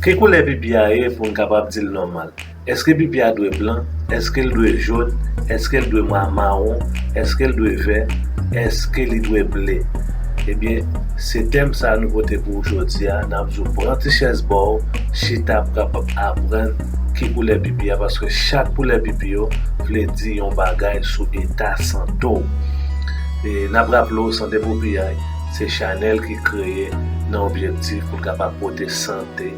Ki koulè pipi a ye pou n kapab di l nòmal? Eske pipi a dwe blan? Eske l dwe jòn? Eske l dwe mawon? Eske l dwe vè? Eske li dwe ble? Ebyen, se tèm sa nou pote pou ou jodi a. N ap di ou pran ti chèz ba w, chita pou kapab aprann ki koulè pipi a paske chak koulè pipi yo vle di yon bagay sou eta sante w. E n ap raple w Sante pou Piyay se chanèl ki kreye nan objektif pou l kapab pote sante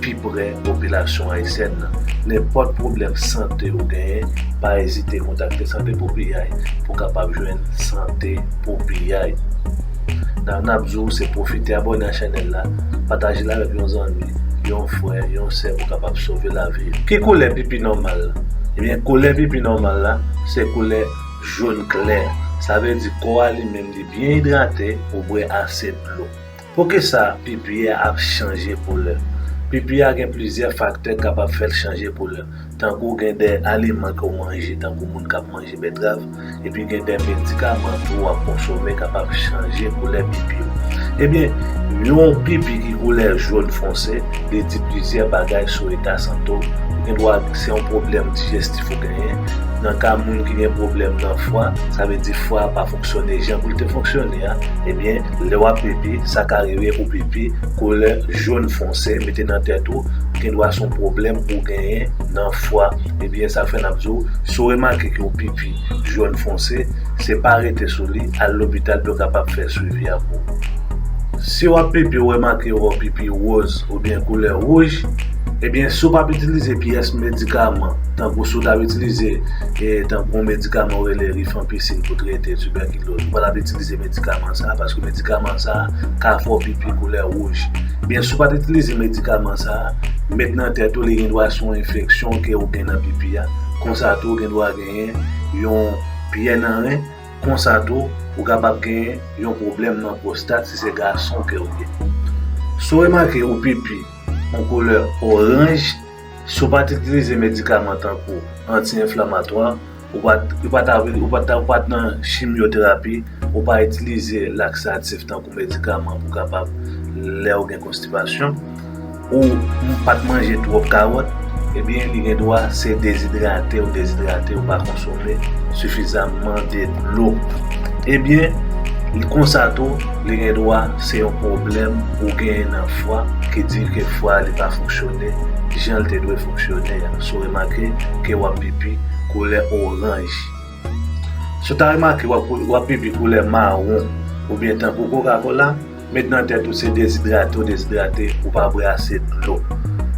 pi prè popilasyon ayisyèn nan. Nenpòt pwoblèm sante ou genyen, pa ezite kontakte Sante pou Piyay pou w kapab jwenn sante pou piyay. N a n ap di w se pwofite abòne a chanèl la, pataje l avèk yon zanmi, yon frè, yon sè pou w kapab sove lavi yo. Ki koulè pipi nòmal la? Ebyen koulè pipi nòmal la se koulè Jone klè, sa vle di kò a li menm li byen idrate, ou bwè ase dlo. Poukisa pipi a ap chanje koulè? Pipi a gen plizyè faktè kapab fè l chanje koulè, tankou gen de aliman ke w manje tankou moun kap manje betrav, epi gen de medikaman tou wap konsome kapab chanje koulè pipi w. Ebyen, yon pipi ki koulè jone fonse, li di plizyè bagay sou eta sante w, ou gen dwa se yon pwoblèm dijestif. ki genyen. Nan ka moun ki gen pwoblèm nan fwa, sa vle di fwa a pa fonksyone jan pou l te fonksyone a, ebyen lè w ap pipi, sa ka rive ou pipi koulè jòn fonse, mete nan tèt ou, gen dwa se yon pwoblèm ou genyen nan fwa. Ebyen sa fè n ap di w, si w remake ke w pipi jòn fonse, se pa rete sou li, al lopital pou yo kapab fè swivi a pou ou. Si w ap pipi ou remake wè w pipi woz oubyen koulè wouj, Ebyen si w pap itilize pyès medikaman tankou si w tap itilize tankou yon medikaman yo rele rifampicin pou trete tibèkiloz ou pa tap itilize medikaman sa paske medikaman sa ka fè w pipi koulè wouj ebyen si w pat itilize medikaman sa met nan tèt ou li gen dwa se yon enfeksyon ke ou gen nan pipi a konsa tou gen dwa genyen yon pyè nan ren konsa tou ou kapab genyen yon pwoblèm nan pwostat si se gason ke ou ye si w remake ou pipi Yon koulè oranj. Si w pa t itilize medikaman tankou anti-enflamatwa, ou pa t, ou pa ta, ou pa ta, ou pa t nan chimyoterapi, ou pa itilize laksatif tankou medikaman pou kapab lè ou gen konstipasyon, ou pa t manje twòp kawòt, ebyen li gen dwa se dezidrate ou dezidrate, ou pa konsome sifizamman de dlo. Ebyen, konsa tou. Li gen dwa se yon pwoblèm ou genyen nan fwa ki di ke fwa li pa fonksyone jan l te dwe fonksyone a. Si w remake ke w ap pipi koulè oranj. Si w ta remake w ap pipi koulè mawon oubyen tankou kokakola, met nan tèt ou se dezidrate w dezidrate, ou pa bwè ase dlo.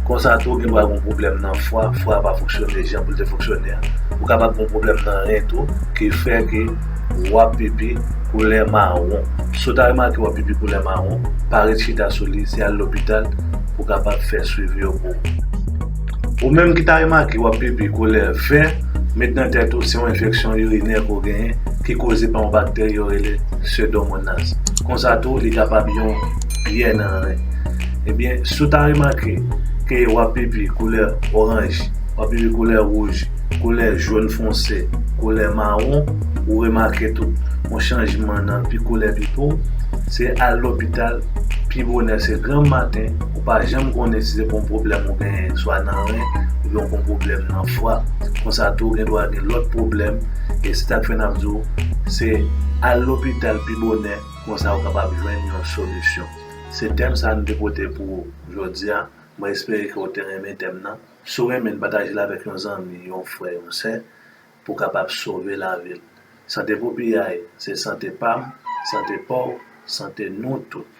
Konsa tou ou gen dwa gen yon pwoblèm nan fwa, fwa a pa fonksyone jan pou l te fonksyone a. Ou kapab gen yon pwoblèm nan ren tou ki fè ke. W ap pipi koulè mawon. Si w ta remake w ap pipi koulè mawon, pa ret chita sou li, se al lopital pou w kapab fè swivi yo pou ou. Ou menm ki ta remake w ap pipi koulè vè, met nan tèt ou se yon enfeksyon irinè ke w genyen ki koze pa yon bakteri yo rele Pseudomonas. Konsa tou li kapab yon pyè nan ren. Ebyen, si w ta remake ke w ap pipi koulè oranj, w ap pipi koulè wouj, Koulè jòn fonse, koulè mawon, ou remake tou yon chanjman nan pi koulè pi po w, se al lopital pi bonè se granm maten, ou pa janm konnen si se pou yon pwoblèm ou genyen swa nan ren oubyen ou pou yon pwoblèm nan fwa, konsa tou gen dwa gen lòt pwoblèm e se sak fè nap di w se al lopital pi bonè konsa ou kapab jwenn yon solisyon. Se tèm sa nou te pote pou ou jodi a, mwen espere ke ou te renmen tèm nan. Si w renmen l, pataje l avèk yon zanmi, yon frè, yon sè pou w kapab sove lavi l. Sante pou piyay, se sante pa m, sante pa w, sante nou tout.